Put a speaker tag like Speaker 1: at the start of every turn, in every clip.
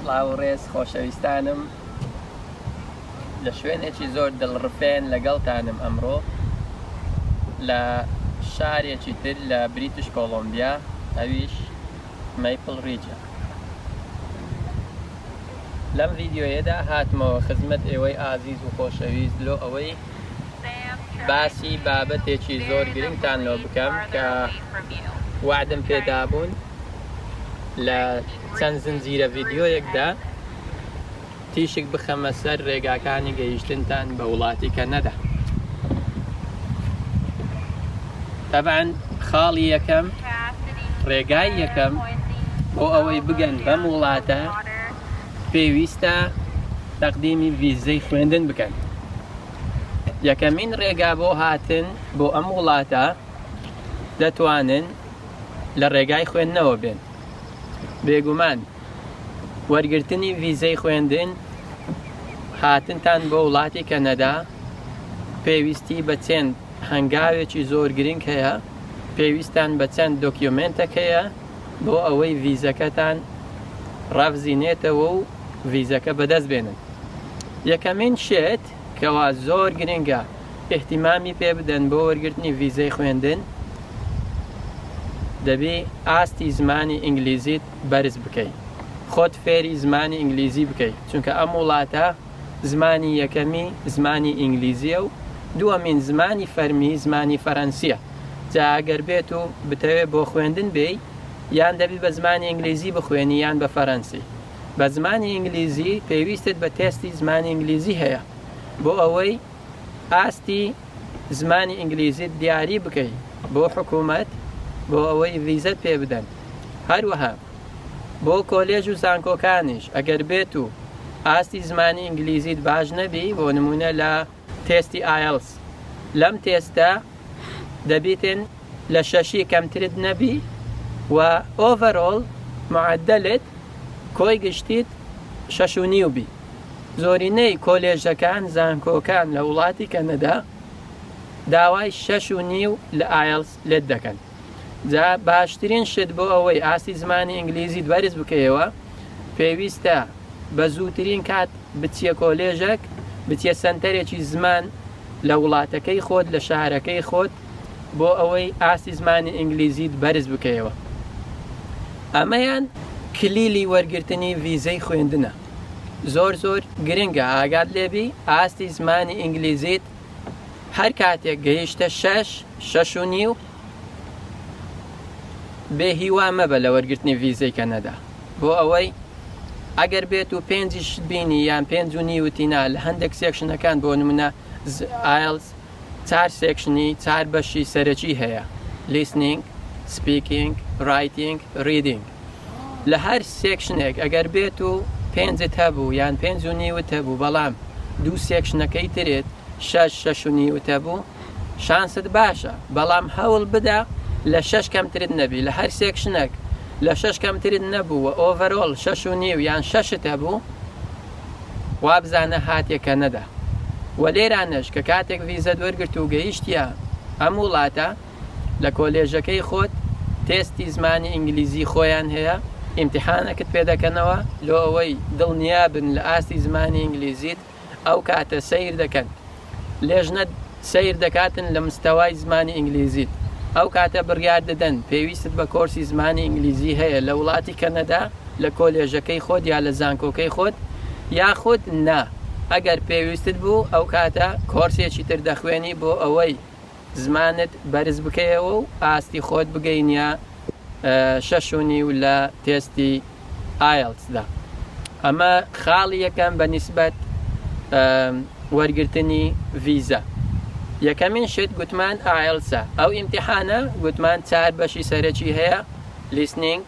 Speaker 1: سڵاو ڕێز خۆشەویستانم لە شوێنێکی زۆر دڵڕفێن لەگەڵتانم ئەمڕۆ لە شارێکی تر لە بریتش کۆڵۆمبیا ئەویش مەیپڵ ڕیجە لەم ڤیدیۆیەدا هاتمەوە خزمەت ئێوەی ئازیز و خۆشەویست لۆ ئەوەی باسی بابەتێکی زۆر گرنگتان لۆ بکەم کە وعدم پێدابوون لە چەند زنجیرە ڤیدیۆیەکدا تیشک بخەمە سەر ڕێگاکانی گەیشتنتان بە وڵاتی کەنەدا تەبعەن خاڵی یەکەم ڕێگای یەکەم بۆ ئەوەی بگەن بەم وڵاتە پێویستە تەقدیمی ڤیزەی خوێندن بکەن یەکەمین ڕێگا بۆ هاتن بۆ ئەم وڵاتە دەتوانن لە ڕێگای خوێندنەوە بێن بێگومان وەرگرتنی ڤیزەی خوێندن هاتنتان بۆ وڵاتی کەنەدا پێویستی بە چێن هەنگاوێکی زۆر گرنگ هەیە، پێویستتان بە چەند دۆکیۆمێنتەک هەیە بۆ ئەوەی ڤیزەکەتان ڕابزینێتەوە و ڤیزەکە بەدەست بێنن. یەکەمین شت کەوا زۆر گرنگە ئیهتیمامی پێ بدەن بۆ وەرگرتنی ڤیزەی خوێندن، دەبی ئاستی زمانی ئینگلیزیت بەرز بکەی، خۆت فێری زمانی ئینگلیزی بکەی، چونکە ئەم وڵاتە زمانی یەکەمی زمانی ئینگلیزیە و دووەمین زمانی فەرمی زمانی فەرەنسیە جا ئەگەر بێت و بتەوێ بۆ خوێندن بێی یان دەبی بە زمانی ئینگلیزی بخوێنی یان بە فەرەنسی بە زمانی ئینگلیزی پێویستت بە تێستی زمانی ئینگلیزی هەیە بۆ ئەوەی ئاستی زمانی ئینگلیزیت دیاری بکەی بۆ حکومەت بۆ ئەوەی ڤیزەت پێ بدەن هەروەها بۆ کۆلێژ و زانکۆکانیش ئەگەر بێت و ئاستی زمانی ئینگلیزیت باش نەبی بۆ نمونە لە تێستی ئایەڵس لەم تێستە دەبیتن لە شەشی کەمترت نەبی و ئۆڤەرۆڵ معدلت کۆی گشتیت شەش و نیو بی زۆرینەی کۆلێژەکان زانکۆکان لە وڵاتی کەنەدا داوای شەش و نیو لە ئایەڵس لێت دەکەن. جا باشترین شت بۆ ئەوەی ئاستی زمانی ئینگلیزیت بەرز بکەیەوە پێویستە بە زووترین کات بچیە کۆلێژەک بچیە سەنتەرێکی زمان لە وڵاتەکەی خۆت لە شارەکەی خۆت بۆ ئەوەی ئاستی زمانی ئینگلیزیت بەرز بکەیەوە ئەمەیان کلیلی وەرگرتنی ڤیزەی خوێندنە زۆر زۆر گرنگە ئاگات لێبی ئاستی زمانی ئینگلیزیت هەر کاتێک گەیشتە شەش، شەش و نیو، بێ هیوا مەبە لە وەرگرتنی ڤیزەی کەنەدا، بۆ ئەوەی ئەگەر بێت و پێنجیشت بینی یان پێنج و نیوتی نا لە هەندێک سێکشنەکان بۆ نمونە ئایلس چار سێکشنی چار بەشی سەرەکی هەیە، لیسنینگ، سپیکینگ، رایتینگ، ریدینگ. لە هەر سێکشنێک ئەگەر بێت و پێنجت هەبوو یان پێنج و نیوت هەبوو بەڵام دوو سێکشنەکەی ترێت شەش شەش و نیوت هەبوو شانست باشە بەڵام هەوڵ بدە لە شەش کەمترت نەبی لە هەر سێکشنەک لە شەش کەمترت نەبوو و ئۆڤەرۆڵ شەش و نیو یان شەشت هەبوو وابزانە هاتیە کەنەدا و لێرانەش کە کاتێک ڤیزەت وەرگرت و گەیشتیە ئەم وڵاتە لە کۆلێژەکەی خۆت تێستی زمانی ئینگلیزی خۆیان هەیە ئیمتیحانەکت پێ دەکەنەوە لۆ ئەوەی دڵنیابن لە ئاستی زمانی ئینگلیزیت ئەو کاتە سەیر دەکەن لێژنەت سەیر دەکاتن لە مستەوای زمانی ئینگلیزیت ئەو کاتە بڕیار دەدەن پێویستت بە کۆرسی زمانی ئینگلیزی هەیە لە وڵاتی کەنەدا لە کۆلێژەکەی خۆت یا لە زانکۆکەی خۆت یاخود نا ئەگەر پێویستت بوو ئەو کاتە کۆرسێکی تر دەخوێنی بۆ ئەوەی زمانت بەرز بکەیەوە و ئاستی خۆت بگەینیە شەش و نیو لە تێستی ئایەڵتسدا ئەمە خاڵی یەکەم بە نیسبەت وەرگرتنی ڤیزە یەکەمین شت گوتمان ئایەڵسە ئەو ئیمتیحانە گوتمان چار بەشی سەرەکی هەیە لیسنینگ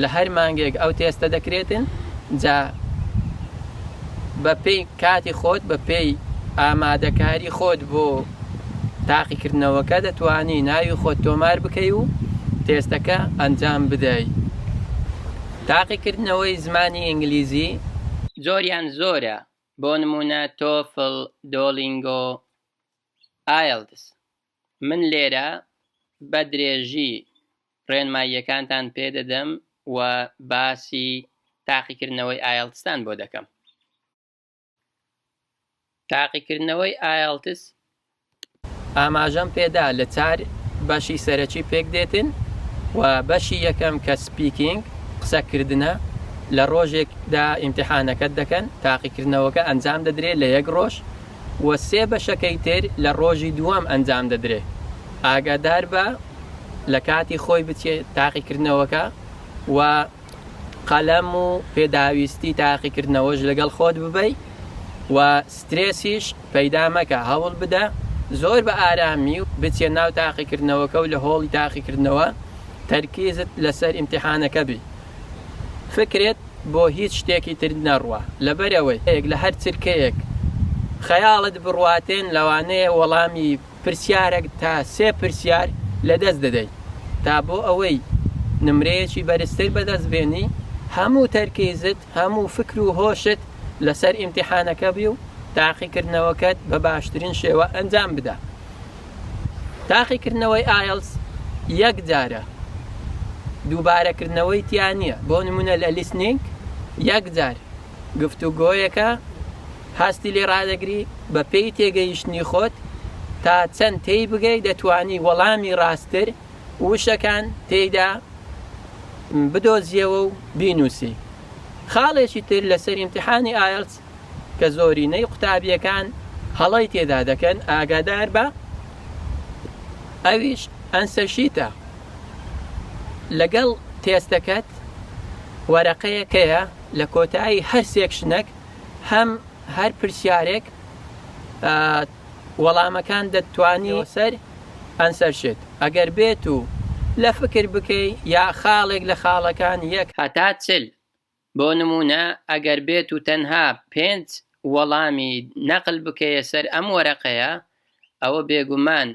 Speaker 1: لە هەر مانگێک ئەو تێستە دەکرێتن جا بە پێی کاتی خۆت بە پێی ئامادەکاری خۆت بۆ تاقی کردنەوەکە دەتوانی ناوی خۆت تۆمار بکەی و تێستەکە ئەنجام بدەی تاقی کردنەوەی زمانی ئینگلیزی جۆریان زۆرە بۆ نموونە تۆفل دۆلینگۆ ئایلتس. من لێرە بە درێژی ڕێنماییەکانتان پێ دەدەم و باسی تاقیکردنەوەی ئایەڵتستان بۆ دەکەم. تاقیکردنەوەی ئایەڵتس ئاماژەم پێدا لە چار بەشی سەرەکی پێک دێتن و بەشی یەکەم کە سپیکینگ قسەکردنە لە ڕۆژێکدا ئیمتیحانەکەت دەکەن تاقیکردنەوەکە ئەنجام دەدرێت لە یەک ڕۆژ و سێ بەشەکەی تر لە ڕۆژی دووەم ئەنجام دەدرێ. ئاگادار بە لە کاتی خۆی بچێ تاقیکردنەوەکە و قەلەم و پێداویستی تاقیکردنەوەش لەگەڵ خۆت ببەی و سترێسیش پەیدا مەکە هەوڵ بدە زۆر بە ئارامی و بچیە ناو تاقیکردنەوەکە و لە هۆڵی تاقیکردنەوە تەرکیزت لەسەر ئیمتیحانەکە بی. فکرت بۆ هیچ شتێکی تر نەڕوا، لەبەرئەوەی لە هەر چرکەیەک خەیاڵت بڕواتێن لەوانەیە وەڵامی پرسیارێک تا سێ پرسیار لەدەست دەدەی تا بۆ ئەوەی نمرەیەکی بەرزتر بەدەست بێنی هەموو تەرکیزت هەموو فکر و هۆشت لەسەر ئیمتیحانەکە بی و تاقیکردنەوەکەت بە باشترین شێوە ئەنجام بدە. تاقیکردنەوەی ئایەڵس یەک جارە دووبارەکردنەوەی تیا نییە بۆ نمونە لە لیسنینگ یەک جار گفتوگۆیەکە هەستی لێ ڕادەگری بە پێی تێگەیشتنی خۆت تا چەند تێی بگەی دەتوانی وەڵامی ڕاستتر وشەکان تێیدا بدۆزیەوە و بینوسی خاڵێکی تر لەسەر امتحانی ئایلس کە زۆرینەی قوتابیەکان هەڵەی تێدا دەکەن ئاگادار بە ئەویش ئەنسەشیتە لەگەڵ تێستەکەت وەرەقەیەکەیە لە کۆتایی هەر سێکشنەک هەم هەر پرسیارێک وەڵامەکان دەتوانی سەر ئەنسەر شێت ئەگەر بێت و لە فکر بکەی یا خاڵێک لە خاڵەکان یەک هەتا چل بۆ نموونە ئەگەر بێت و تەنها پێنج وەڵامی نەقل بکەیە سەر ئەم وەرەقەیە ئەوە بێگومان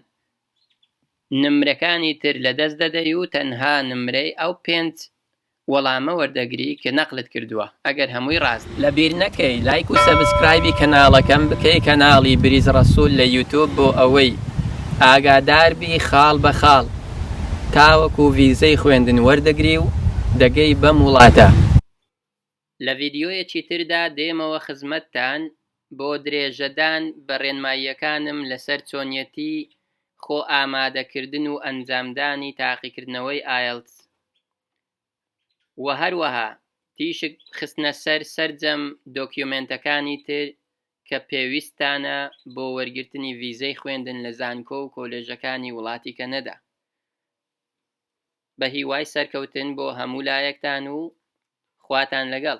Speaker 1: نمرەکانی تر لەدەست دەدەی و تەنها نمرەی ئەو پێنج وەڵامە وەردەگری کە نەقلت کردووە ئەگەر هەمووی ڕاست بێ. لەبیر نەکەی لایک و سەبسکرایبی کەناڵەکەم بکەی کەناڵی بریز ڕەسول لە یوتوب بۆ ئەوەی ئاگادار بی خاڵ بە خاڵ. تاوەکو ڤیزەی خوێندن وەردەگری و دەگەی بەم وڵاتە. لە ڤیدیۆیەکی تردا دێمەوە خزمەتتان بۆ درێژەدان بە ڕێنماییەکانم لەسەر چۆنیەتی خۆ ئامادەکردن و ئەنجامدانی تاقیکردنەوەی ئایەڵتس. و هەروەها تیشک خستنە سەر سەرجەم دۆکیۆمێنتەکانی تر کە پێویستتانە بۆ وەرگرتنی ڤیزەی خوێندن لە زانکۆ و کۆلێژەکانی وڵاتی کەنەدا. بە هیوای سەرکەوتن بۆ هەموو لایەکتان و خواتان لەگەڵ.